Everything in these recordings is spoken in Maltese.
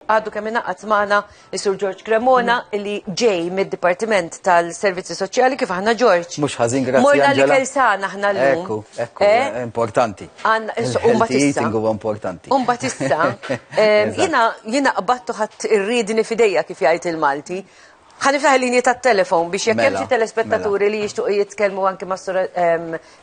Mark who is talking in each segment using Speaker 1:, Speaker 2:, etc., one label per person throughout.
Speaker 1: Għadu kemm ingħaqad magħna is-Sur George Cremona mm. li ġej mid-Dipartiment tal-Servizzi Soċjali kif aħna George. Mhux ħażin grazzi. Morna li kelsana aħna llum. Ekku, ekku, eh? Eh, importanti. Umba tista. huwa importanti. Umba tista. Eh, jiena jiena qbattu ħadd irridni fidejja kif jgħid il-Malti. Ħaniftaħ l-linji ta' telefon biex jekk mela, hemm xi telespettaturi mela. li jixtuq jitkellmu anke ma' Sur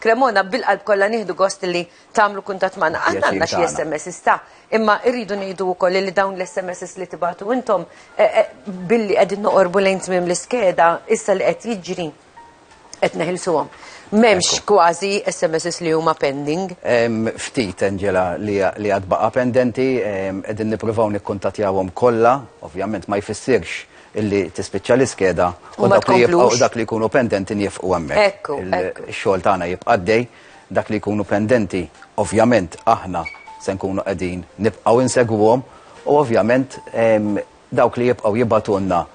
Speaker 1: Cremona bil-qalb kollha nieħdu gost li tagħmlu kuntatt magħna. Aħna għandna xi SMS sta, imma rridu ngħidu wkoll li dawn l-SMS li tibatu intom eh, eh, billi qegħdin noqorbu lejn tmiem l-iskeda issa li qed jiġri qed neħilsuhom. M'hemmx kważi SMS li huma pending. Ftit Angela li għad baqa' pendenti qegħdin nippruvaw nikkuntattjawhom kollha, ovvjament ma jfissirx illi tispiċċa l-iskeda u dak li jibqgħu dak li jkunu pendenti nifqu hemmhekk. Ekku. Xogħol tagħna jibqa' dej. Dak li jkunu pendenti, ovvjament aħna se nkunu qegħdin nibqgħu insegwuhom u ovvjament dawk li jibqgħu jibgħatulna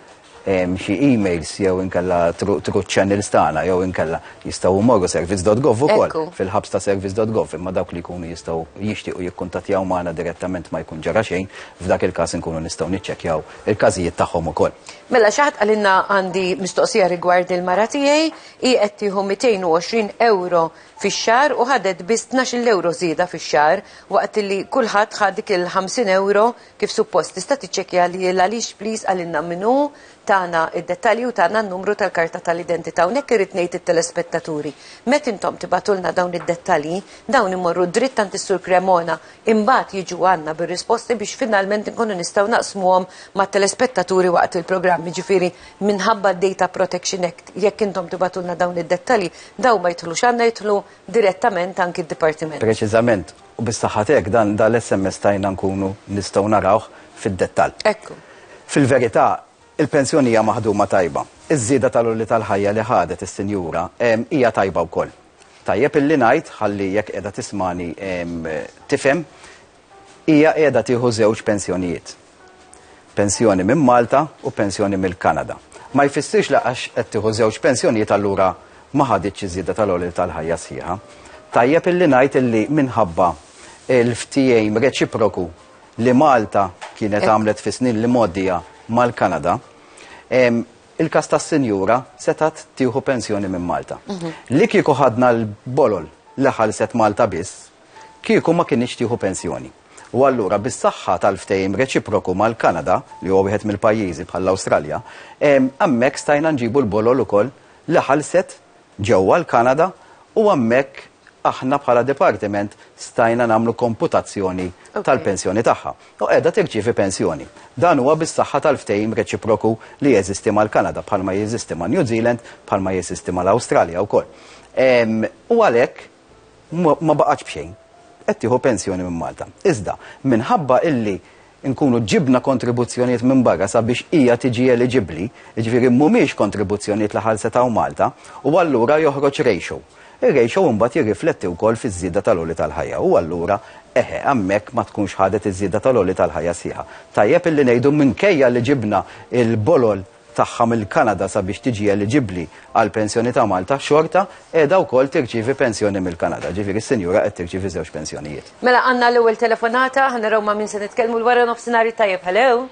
Speaker 1: xi emails jew inkella through channels tagħna jew inkella jistgħu jmorru service.gov ukoll fil-ħabs ta' service.gov imma dawk li jkunu jistgħu jixtiequ jikkuntattjaw magħna direttament ma jkun ġara xejn, f'dak il-każ inkunu nistgħu niċċekkjaw il-każijiet tagħhom ukoll. Mela xi ħadd qalilna għandi mistoqsija rigward il-mara tiegħi. Hi qed tieħu 220 ewro fix-xahar u ħadet biss tnax-il ewro żieda fix-xahar waqt li kulħadd ħa dik il-ħamsin ewro kif suppost. Tista' tiċċekkja li hi l-għaliex please qalilna min hu, tana id-dettalji u tana n-numru tal-karta tal-identita. U hekk irrid ngħid it-telespettaturi, met intom tibagħtulna dawn id-dettalji, dawn imorru dritt għand is-Sur Cremona, imbagħad jiġu għandna bir-risposti biex finalment inkunu nistgħu naqsmuhom mat-telespettaturi waqt il-programm. Jiġifieri, minħabba d-Data Protection Act, jekk intom tibagħtulna dawn id-dettalji, dawn ma jidħlux għandna jidħlu direttament anki d-Dipartiment. Preċiżament, u biex saħħat hekk dan dal-SMS stajna nkunu nistgħu narawh fid-dettall. Ekku. Fil-verità, il-pensjoni hija maħduma tajba. Iż-żieda tal-għoli tal-ħajja li ħadet is-sinjura hija tajba wkoll. Tajjeb illi ngħid, ħalli jekk qiegħda tismagħni tifhem, Hija qiegħda tieħu żewġ pensjonijiet. Pensjoni minn Malta u pensjoni mill-Kanada. Ma jfissirx li għax qed tieħu żewġ pensjonijiet allura ma ħaditx iż-żieda tal-għolil tal-ħajja sħiħa. Tajjeb illi ngħid illi minħabba l-ftehim reċiproku li Malta kienet għamlet fis-snin li mgħoddija mal-Kanada, il-każ tas-sinjura setgħet tieħu pensjoni minn Malta. Li kieku ħadna l-bolol li ħallset Malta biss, kieku ma kinitx tieħu pensjoni. U allura bis-saħħa tal-ftehim reċiproku mal-Kanada, li huwa wieħed mill-pajjiżi bħall-Awstralja, hemmhekk stajna nġibu l-bolol ukoll li ħallset ġewwa l-Kanada u hemmhekk aħna bħala dipartiment stajna nagħmlu komputazzjoni tal-pensjoni tagħha. U qiegħda tirċievi pensjoni. Dan huwa bis-saħħa tal-ftehim reċiproku li jeżisti mal-Kanada bħalma jeżisti ma' New Zealand, bħalma jeżisti mal-Awstralja wkoll. U għalhekk ma baqgħetx b'xejn. Qed tieħu pensjoni minn Malta. Iżda, minħabba illi nkunu ġibna kontribuzzjonijiet minn barra sabiex hija tiġi eliġibbli, jiġifieri mhumiex kontribuzzjonijiet li ħallset hawn Malta, u allura joħroġ ratio. Ir-ratio imbagħad jirrifletti wkoll fiż-żieda tal-għoli tal-ħajja u allura, eħe, hemmhekk ma tkunx ħadet iż-żieda tal-għoli tal-ħajja sħiħa. Tajjeb illi ngħidu minkejja li ġibna l-bolol, tagħha mill-Kanada sabiex tiġi eliġibbli għal pensjoni ta' Malta, xorta qiegħda wkoll tirċievi pensjoni mill-Kanada. Ġifieri s-sinjura qed tirċievi żewġ pensjonijiet. Mela għandna l-ewwel telefonata, ħa naraw ma' min se nitkellmu l-wara nofsinhar it-tajjeb. Hello?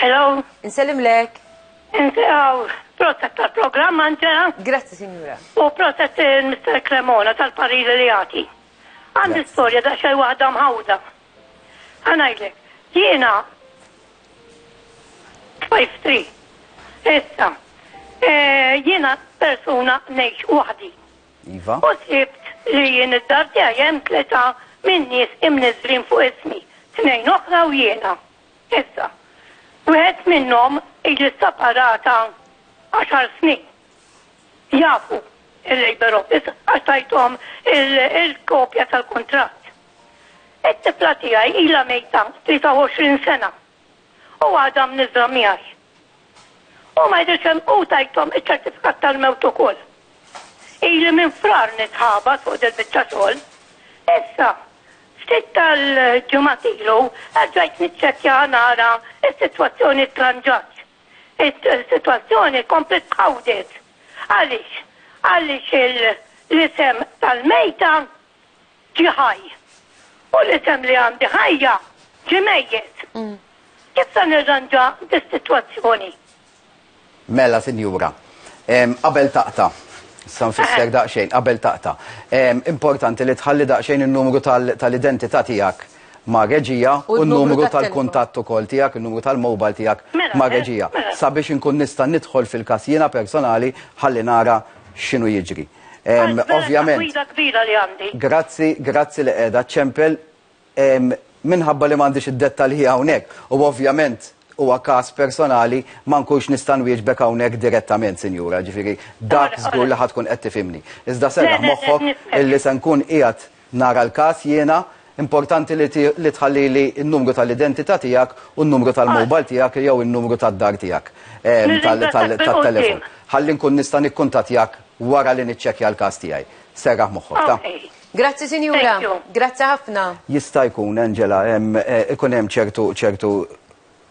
Speaker 1: Hello? Insellimlek. Insew, proset tal-programm Angela. Grazzi sinjura. U proset il-Mister Cremona tal-pariri li jagħti. Għandi storja daqsxejn waħda mħawda. Ħa ngħidlek, jiena tfajftri. Issa, eh, jiena persuna ngħix waħdi. Iva. U sibt li jien id-dar tiegħi hemm tleta minn nies imniżrin fuq ismi, tnejn oħra u jiena. Issa, wieħed minnhom ili separata għaxar snin. Jafu il-labor office għax tajthom il-kopja tal-kuntratt. It-tifla tiegħi ilha mejta 23 sena u għadha mniżżla miegħi. Hu ma jidhirx hemm u tajthom iċ-ċertifikat tal-mewt ukoll. Ili minn Frar nitħabat fuq dil-biċċa xogħol. Issa, ftit tal-ġimgħat ilu erġajt niċċekkja nara s-sitwazzjoni ttranġatx. Is-sitwazzjoni kompliet tħawdet. Għaliex? Għaliex l-isem tal-mejta ġie ħaj, u l-isem li għandi ħajja ġie mejjet. Kif se nirranġa dis-sitwazzjoni? Mela, sinjura, qabel taqta', issa nfisser daqsxejn, qabel taqta', importanti li tħalli daqsxejn in-numru tal-identità tiegħek ma' reġija u n-numru tal-kuntatt ukoll tiegħek, in-numru tal-mobile tiegħek ma' reġija, sabiex inkun nista' nidħol fil-każ jiena personali ħalli nara x'inhu jiġri. Ovvjament. Gwida kbira li għandi. Grazzi, grazzi li qiegħda ċempel minħabba li m'għandix id-dettalji hawnhekk u ovvjament huwa każ personali ma nkunx nista' nwieġbek hawnhekk direttament, Sinjura, ġifieri dak żgur li ħadd tkun qed tifhimni. Iżda serraħ moħħok illi se nkun qiegħed Nara l-każ jiena, importanti li tħallili n-numru tal-identità tiegħek u n-numru tal-mobile tiegħek jew in-numru tad-dar tiegħek tat-telefon. Ħalli nkun nista' nikkuntattjak wara li niċċekkja l-każ tiegħi. Serraħ moħħok, ta? Grazzi sinjura. Grazzi ħafna. Jista' jkun, Angela, ikun hemm ċertu, ċertu,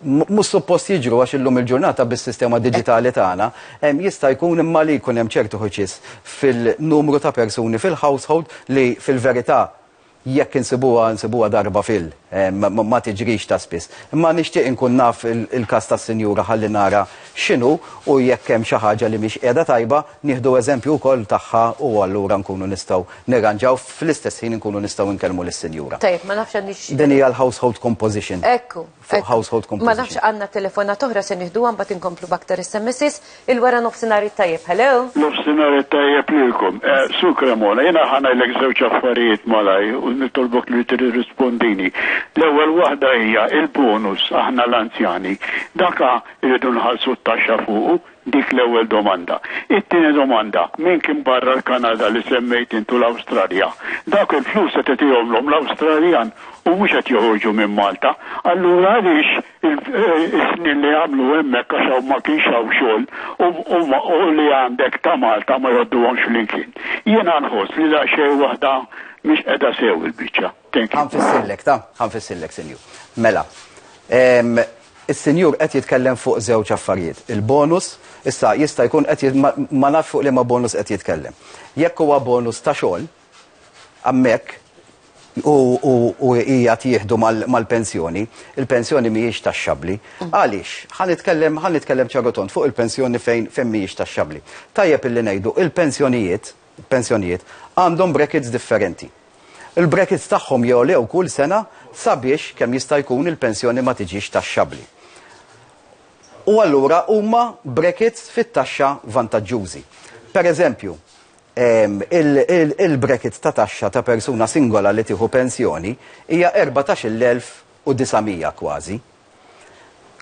Speaker 1: mhux suppost jiġru għax illum il-ġurnata bis-sistema diġitali tagħna jista' jkun imma li jkun hemm ċertu ħuċis fil-numru ta' persuni fil-household li fil-verità jekk insibuha nsibuha darba fil ma tiġrix ta' spiss. Imma nixtieq inkun naf il-każ tas-sinjura ħalli nara x'inhu u jekk hemm xi ħaġa li mhix qiegħda tajba Nieħdu eżempju wkoll tagħha u allura nkunu nistgħu nirranġaw fl-istess ħin inkunu nistgħu nkellmu lis-sinjura. Tajjeb, ma nafx għandix. Din hija l-household composition. Ekku. Fuq household composition. Ma nafx għandna telefonat oħra se nieħduha mbagħad inkomplu b'aktar SMSs. Il-wara nofsinhar it-tajjeb, hello? Nofsinhar it-tajjeb lilkom. Sur Cremona, jiena ħa ngħidlek żewġ affarijiet malajr u nitolbok li tirrispondini. L-ewwel waħda hija l-bonus aħna l-anzjani. Dak irridu nħallsu t-taxxa fuqu Dik l-ewwel domanda. It-tieni domanda, min kien barra l-Kanada li semmejt int u l-Awstralja? Dawk il-flus qed itihomlhom l-Awstraljan u mhux qed joħorġu minn Malta. Allura għaliex is-snin li għamlu hemmhekk għax hawn ma kienx hawn xogħol u li għandek ta' Malta ma jgħodduhomx flimkien? Jiena nħoss li daqsxejn waħda mhix qiegħda sew il-biċċa. Thank you. Ħa nfissillek, ta? Ħa nfissillek, Sinjur. Mela, ehm, is-Sinjur qed jitkellem fuq żewġ affarijiet. Il-bonus, issa jista' jkun qed jit- ma- ma nafx fuq liema bonus qed jitkellem. Jekk huwa bonus ta' xogħol, hemmhekk u u u hija tieħdu mal- mal-pensjoni, il-pensjoni mhijiex taxxabbli. Għaliex? Ħa nitkellem ħa nitkellem ċarutont fuq il-pensjoni fejn fejn mhijiex taxxabbli. Tajjeb illi ngħidu il-pensjonijiet pensjonijiet għandhom brackets differenti. Il-brackets tagħhom jogħlew kull sena sabiex kemm jista' jkun il-pensjoni ma tiġix taxxabbli. U allura huma brackets fit-taxxa vantaġġużi. Pereżempju, ehm, il-bracket ta' taxxa ta' persuna singola li tieħu pensjoni hija 14,900 kważi.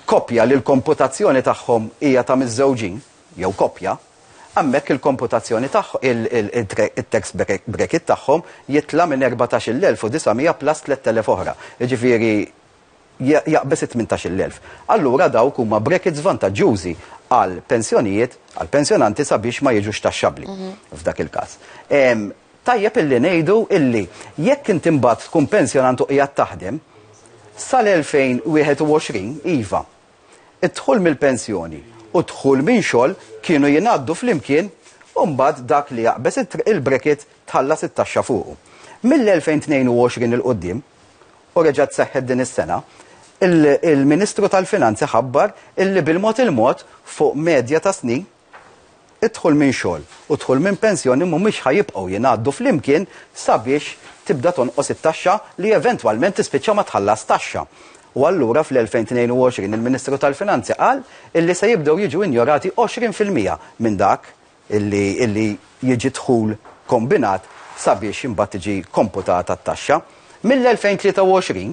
Speaker 1: Koppja li l-komputazzjoni tagħhom hija ta' miżżewġin, jew koppja, hemmhekk il-komputazzjoni tagħhom, it-tax bracket tagħhom jitla' minn 14,900 plus 3,000 oħra, jiġifieri jaqbeż it-18,000. Allura dawk huma brackets vantaġġjużi għall-pensjonijiet, għall-pensjonanti sabiex ma jiġux taxxabbli f'dak il-każ. Tajjeb illi ngħidu illi jekk inti mbagħad tkun pensjonant u qiegħed taħdem, sal-2021, iva, id-dħul mill-pensjoni u d-dħul minn xogħol kienu jingħaddu flimkien u mbagħad dak li jaqbeż il-bracket tħallas it-taxxa fuqu. Mill-2022 'il quddiem, u reġgħet seħħet din is-sena, il-Ministru tal-Finanzi ħabbar illi bil-mod il-mod fuq medja ta' snin, Id-dħul minn xogħol u d-dħul minn pensjoni mhumiex ħa jibqgħu jingħaddu flimkien sabiex tibda tonqos it-taxxa li eventwalment tispiċċa ma tħallas taxxa. U allura fl-2022 il-Ministru tal-Finanzi qal illi se jibdew jiġu injorati 20 fil-mija minn dak illi illi jiġi dħul kombinat sabiex imbagħad tiġi komputata t-taxxa. Mill-2023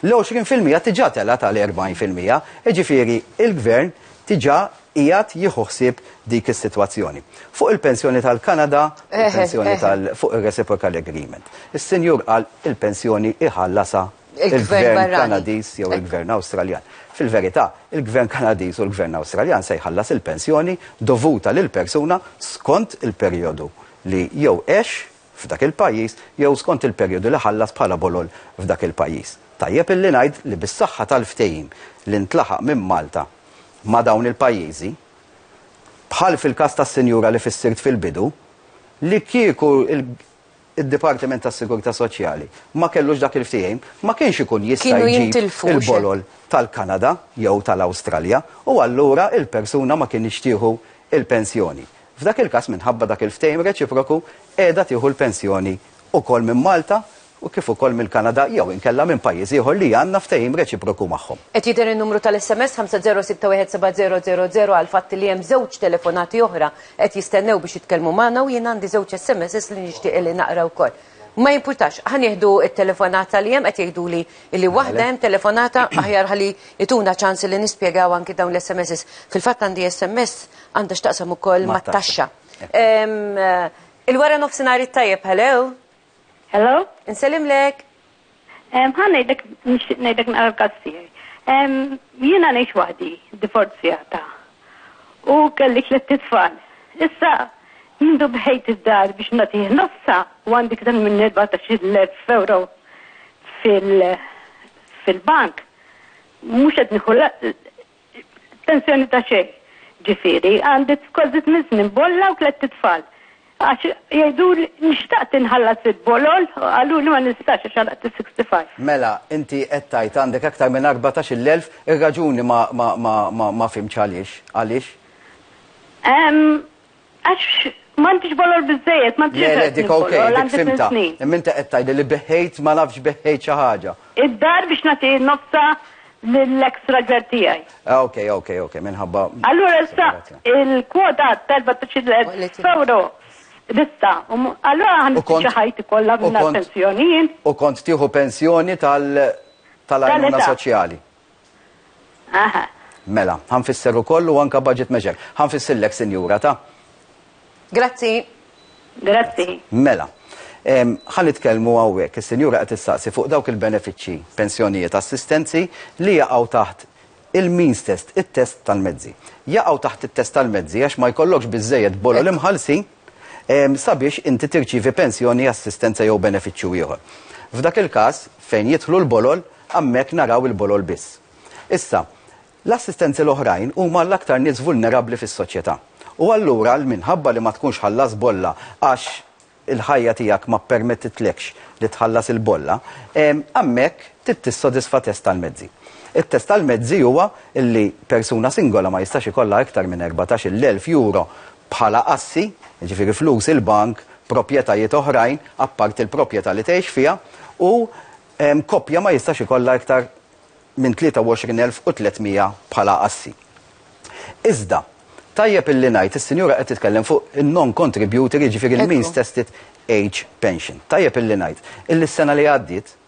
Speaker 1: l-20 fil-mija tiġà telgħet għal 40 fil-mija, jiġifieri l-Gvern tiġà qiegħed jieħu ħsieb dik is-sitwazzjoni. Fuq il-pensjoni tal-Kanada, il-pensjoni tal fuq ir-reciprocal agreement. Is-Sinjur qal il-pensjoni iħallasha il-Gvern Kanadiż jew il-Gvern Awstraljan. Fil-verità, il-Gvern Kanadiż u l-Gvern Awstraljan se jħallas il-pensjoni dovuta lill-persuna skont il-perjodu li jew għex f'dak il-pajjiż jew skont il-perjodu li ħallas bħala bolol f'dak il-pajjiż. Tajjeb illi ngħid li bis-saħħa tal-ftehim li ntlaħaq minn Malta ma' dawn il-pajjiżi, bħal fil-każ tas-sinjura li fissirt fil-bidu, li kieku d-Dipartiment tas-Sigurtà Soċjali ma kellux dak il-ftehim, ma kienx ikun jista' jġib il-bolol tal-Kanada jew tal-Awstralja u allura l-persuna ma kinitx tieħu l-pensjoni. F'dak il-każ, minħabba dak il-ftehim reċiproku, qiegħda tieħu l-pensjoni wkoll minn Malta u kif ukoll mill-Kanada jew inkella minn pajjiż ieħor li għandna ftehim reċiproku magħhom. Qed jidher in-numru tal-SMS 50617000 għall-fatt li hemm żewġ telefonati oħra qed jistennew biex jitkellmu magħna u jien għandi żewġ SMSs li nixtieq li naqra wkoll. Ma jimpurtax, ħa nieħdu t-telefonata li hemm, qed jgħiduli li waħda hemm telefonata, aħjar ħalli jtuna ċans li nispjegaw anki dawn l-SMSs. Fil-fatt għandi SMS għandha x'taqsam ukoll mat-taxxa. Il-wara nofsinhar it-tajjeb, hello? Hello? Insellimlek. Ħa ngħidlek nixtieq ngħidlek naqra l-każ tiegħi. Jiena ngħix waħdi, divorzjata. U kelli tliet tfal. Issa mindu bħejt id-dar biex nagħtih nofsa u għandi ktar minn 14,000 euro fil-bank. Mhux qed nieħu Pensjoni ta' xejn, ġifieri għandi kważi tmien snin b'olla u tlett itfal. Għax jgħiduli xtaqt inħallas il-bolol, qaluli ma nistax għax għalaqt is-65. Mela, inti qed tgħid għandek aktar minn arbatax-il elf, ir-raġuni ma ma ma ma fhimtx għaliex, għaliex? Ehm, Għax m'għandix bolol biżżejjed, ma Le, le, dik ok, dik fhimtha. Imma inti qed tgħidli li beħħejt ma nafx beħħejt xi ħaġa. Id-dar biex nagħti nofsha lill-eks raġel tiegħi. Ok, ok, ok, minħabba. Allura issa il-kwota tal-14,000 f'ewro lista. Allura ħa nispiċċa ħajti kollha mingħajr pensjoni jien. U kont tieħu pensjoni tal-għajnuna soċjali. Aha. Mela, ħa nfisser ukoll u anke budget measure. Ħa nfissillek, Sinjura, ta? Grazzi. Grazzi. Mela, ħa nitkellmu hawnhekk, is-Sinjura qed issaqsi fuq dawk il-benefiċċji, pensjonijiet, assistenzi li jaqgħu taħt il-means test, it-test tal-mezzi. Jaqgħu taħt it-test tal-mezzi għax ma jkollokx biżżejjed bolol imħallsin. sabiex inti tirċievi pensjoni, assistenza jew benefiċċju ieħor. F'dak il-każ, fejn jidħlu l-bolol, hammhekk naraw il-bolol biss. Issa, l-assistenti l-oħrajn huma l-aktar nies vulnerabbli fis-soċjetà. U allura, minħabba li ma tkunx ħallas bolla għax il-ħajja tiegħek ma ppermettitlekx li tħallas il-bolla, hammhekk trid tissodisfa test tal-mezzi. It-test tal-mezzi huwa li persuna singola ma jistax ikollha iktar minn erbatax-il elf euro bħala assi, jiġifieri flus il-bank, proprjetajiet oħrajn apparti l-proprjetà li tgħix fiha, u koppja ma jistax ikollha iktar minn 23,300 bħala assi. Iżda, tajjeb illi ngħid, is-sinjura qed titkellem fuq in-non-contributory, jiġifieri l-means tested age pension. Tajjeb illi ngħid illi s-sena li għaddiet,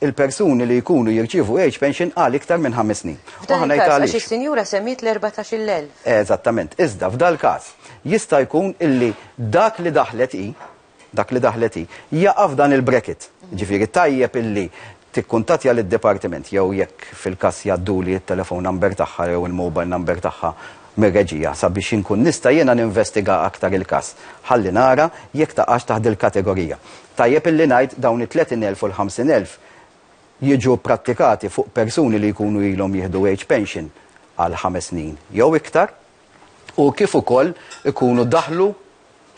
Speaker 1: il-persuni li jkunu jirċievu age pension għal iktar minn ħames snin. F'dan il-każ għax is-sinjura semmiet l-14,000. Eżattament. Iżda f'dal-każ jista' jkun illi dak li daħlet hi, dak li daħlet hi, jaqa' f'dan il-bracket. Ġifieri tajjeb illi tikkuntattja lid-dipartiment jew jekk fil-każ jgħadduli t-telephone number tagħha jew il-mobile number tagħha mir-reġija sabiex inkun nista' jiena ninvestiga aktar il-każ ħalli nara jekk taqax taħt dil-kategorija. Tajjeb illi ngħid dawn it-tletin elf u l-ħamsin elf jiġu pprattikati fuq persuni li jkunu ilhom jieħdu age pension għal ħames snin jew iktar u kif ukoll ikunu daħlu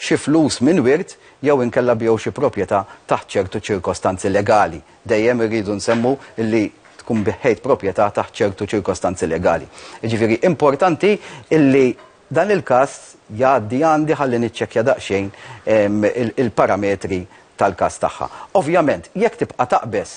Speaker 1: xi flus minn wirt jew inkella biegħu xi proprjetà taħt ċertu ċirkostanzi legali. Dejjem irridu nsemmu li tkun biħħejt proprjetà taħt ċertu ċirkostanzi legali. Jiġifieri importanti li dan il-każ jgħaddi għandi ħalli niċċekkja daqsxejn il-parametri tal-każ tagħha. Ovvjament, jekk tibqa' taqbeż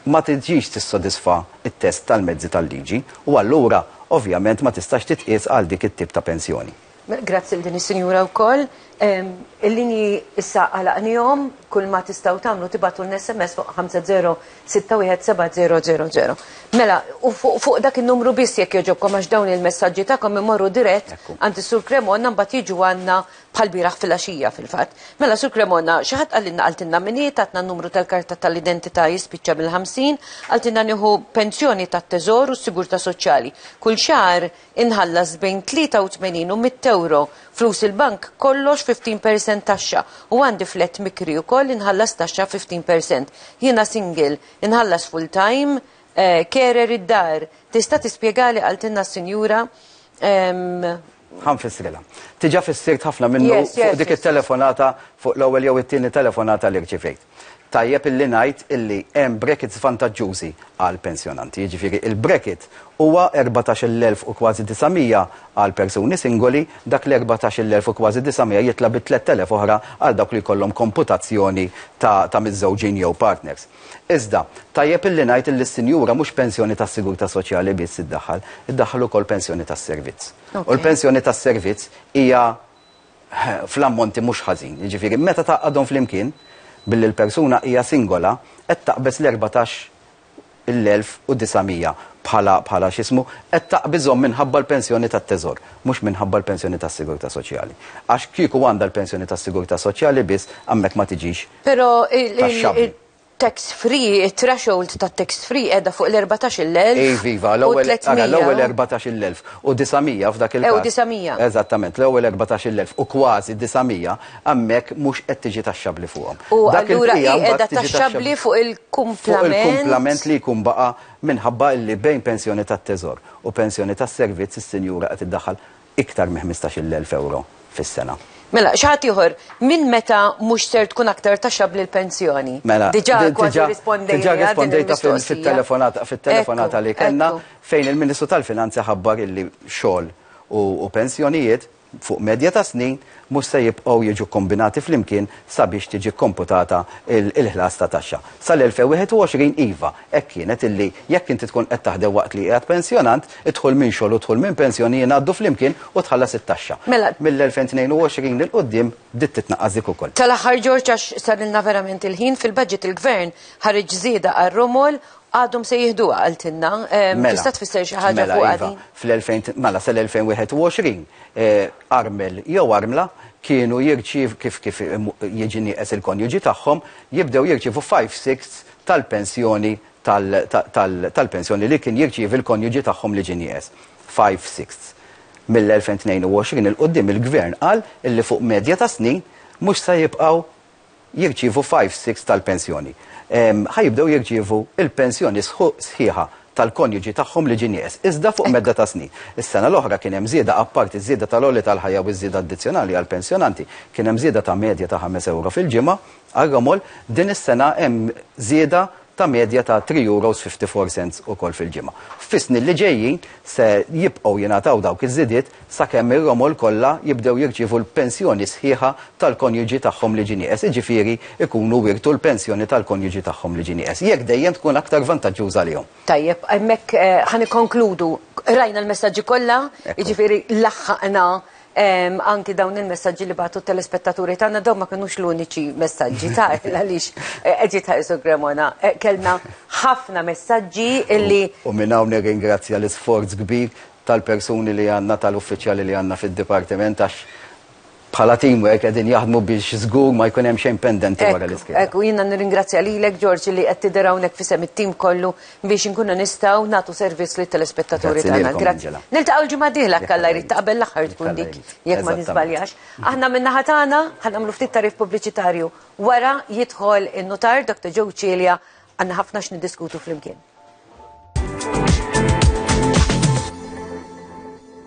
Speaker 1: ma tiġix tissodisfa t-test tal-mezzi tal-liġi u allura ovvjament ma tistax titqies għal dik it-tip ta' pensjoni. Grazzi lil din is-sinjura wkoll. Il-linji issa għalaqnihom, kulma tistgħu tagħmlu tibgħatulna SMS fuq 50617000. Mela, u fuq dak in-numru biss jekk jogħġobkom għax dawn il-messaġġi tagħkom imorru dirett għand is-Sur Cremona mbagħad jiġu għandna Bħall-bieraħ filgħaxija, fil-fatt. Mela, Sur Cremona, xi ħadd qalilna qaltilna min hi, tatna n-numru tal-karta tal-identità jispiċċa mill-ħamsin, qaltilna nieħu pensjoni tat-Teżor u s-Sigurtà Soċjali. Kull xahar inħallas bejn 83 u mitt ewro, flus il-bank, kollox 15 percent taxxa, u għandi flat mikri wkoll inħallas taxxa 15 percent. Jiena single, inħallas full time, carer id-dar. Tista' tispjegali, qaltilna s-Sinjura, Ħa nfissrilha. Diġà fissirt ħafna minnu fuq dik it-telefonata, fuq l-ewwel jew it-tieni telefonata li rċivejt. Tajjeb illi ngħid illi hemm brackets vantaġġużi għall-pensjonanti, jiġifieri l-bracket huwa erbatax il elf u kważi disa' mija għal persuni singoli, dak l-erbatax il elf u kważi disa' mija jitla' bi tlett elef oħra għal dawk li jkollhom komputazzjoni ta' miżżewġin jew partners. Iżda, tajjeb illi ngħid illi s-sinjura mhux pensjoni tas-sigurtà soċjali biss iddaħħal, iddaħħal ukoll pensjoni tas-servizz. U l-pensjoni tas-servizz hija fl-ammonti mhux ħażin. Jiġifieri, meta tgħaqqadhom flimkien, billi l-persuna hija singola, qed taqbeż l-erbatax l-elf u disa' mija bħala bħala x'ismu, qed taqbiżhom minħabba l-pensjoni tat-Teżor, mhux minħabba l-pensjoni tas-sigurtà soċjali. Għax kieku għandha l-pensjoni tas-sigurtà soċjali biss, hemmhekk ma tiġix Pero il-tax free, il-threshold ta' tax free edha fuq l-14.000. Ej, viva, l-ewel 14.000 u 900 f'dak il-kas. Ew 900. Eżattament, l-ewel 14.000 u kważi 900 għammek mux qed tiġi taxxabli fuqhom. U għallura edha taxxabli fuq il-kumplament. Fuq il-kumplament li jkun baqa minħabba li bejn pensjoni tat-teżor u pensjoni tas-servizz is-sinjura qed iddaħħal iktar minn ħmistax-il elf ewro fis-sena. Mela, xi ħadd ieħor, minn meta mhux ser tkun aktar taxxabbli l-pensjoni? Mela, diġà kważi rrispondejtli għal din il-mistoqsija. Diġà rispondejtha fit-telefonata li kellna fejn il-Ministru tal-Finanzi ħabbar illi xogħol u pensjonijiet fuq medja ta' snin mhux se jibqgħu jiġu kkombinati flimkien sabiex tiġi kkomputata l-ħlas ta' taxxa. Sal-2021 iva, hekk kienet illi jekk inti tkun qed taħdem waqt li qiegħed pensjonant, id-dħul minn xogħol u d-dħul minn pensjoni jingħaddu flimkien u tħallas it-taxxa. Mela. Mill-2022 'il quddiem bdiet titnaqqas dik ukoll. Tal-aħħar George għax sarilna verament il-ħin, fil-budget il-Gvern ħareġ żieda għar-romol, għadhom se jieħduha qaltilna. Mela. Tista' tfisser xi ħaġa fuqha din? Mela iva, fl-2000, mela sal-2021, armel jew armla kienu jirċiev kif kif jiġi nieqes il-konjuġi tagħhom, jibdew jirċievu five-sixths tal-pensjoni tal tal tal-pensjoni li kien jirċievi l-konjuġi tagħhom li ġie nieqes. Five-sixths. Mill-2022 'il quddiem il-Gvern qal illi fuq medja ta' snin mhux se jibqgħu jirċievu five-sixths tal-pensjoni, ħa jibdew jirċievu l-pensjoni sħiħa tal-konjuġi tagħhom li ġie nieqes, iżda fuq medda ta' snin. Is-sena l-oħra kien hemm żieda apparti ż-żieda tal-għoli tal-ħajja u ż-żieda addizzjonali għall-pensjonanti, kien hemm żieda ta' medja ta' ħames ewro fil-ġimgħa għar-ramol, din is-sena hemm żieda ta' medja ta' €3.54 ukoll fil-ġimgħa. Fis-snin li ġejjin se jibqgħu jingħataw dawk iż-żidiet sakemm ir-romol kollha jibdew jirċievu l-pensjoni sħiħa tal-konjuġi tagħhom li ġie nieqes, jiġifieri jkunu wirtu l-pensjoni tal-konjuġi tagħhom li ġie nieqes, jekk dejjem tkun aktar vantaġġuża għalihom. Tajjeb, hemmhekk ħa nikkonkludu. Qrajna l-messaġġi kollha, jiġifieri laħħaqna Anki dawn il-messaġġi li bagħtu t-telespettaturi tagħna dawn ma kinux l-uniċi messaġġi ta' għaliex eh, qed jitħarsu Gremona. Eh, kellna ħafna messaġġi illi. U minn hawnhekk ingrazzja l-isforz kbir tal-persuni li għandna tal-uffiċjali li għandna fid-dipartiment għax bħala teamwork qegħdin jaħdmu biex żgur ma jkun hemm xejn pendenti wara l-iskeda. Ekku jiena nirringrazzja lilek Ġorġi li qed tidher hawnhekk fisem it-tim kollu biex inkunu nistgħu nagħtu servizz lit-telespettaturi Grazzi tagħna. lilkom, Grazzi. Angela. Niltaqgħu l-ġimgħa d-dieħla Jekk kalla Alla jrid jrid. ta' qabel l-aħħar Jekk tkun Alla dik, jrid. jekk ma Eżattament. niżbaljax. Aħna min-naħa tagħna ħa nagħmlu ftit tagħrif pubbliċitarju. Wara jidħol in-nutar Dr. Joe Cilia għandna ħafna x'niddiskutu flimkien.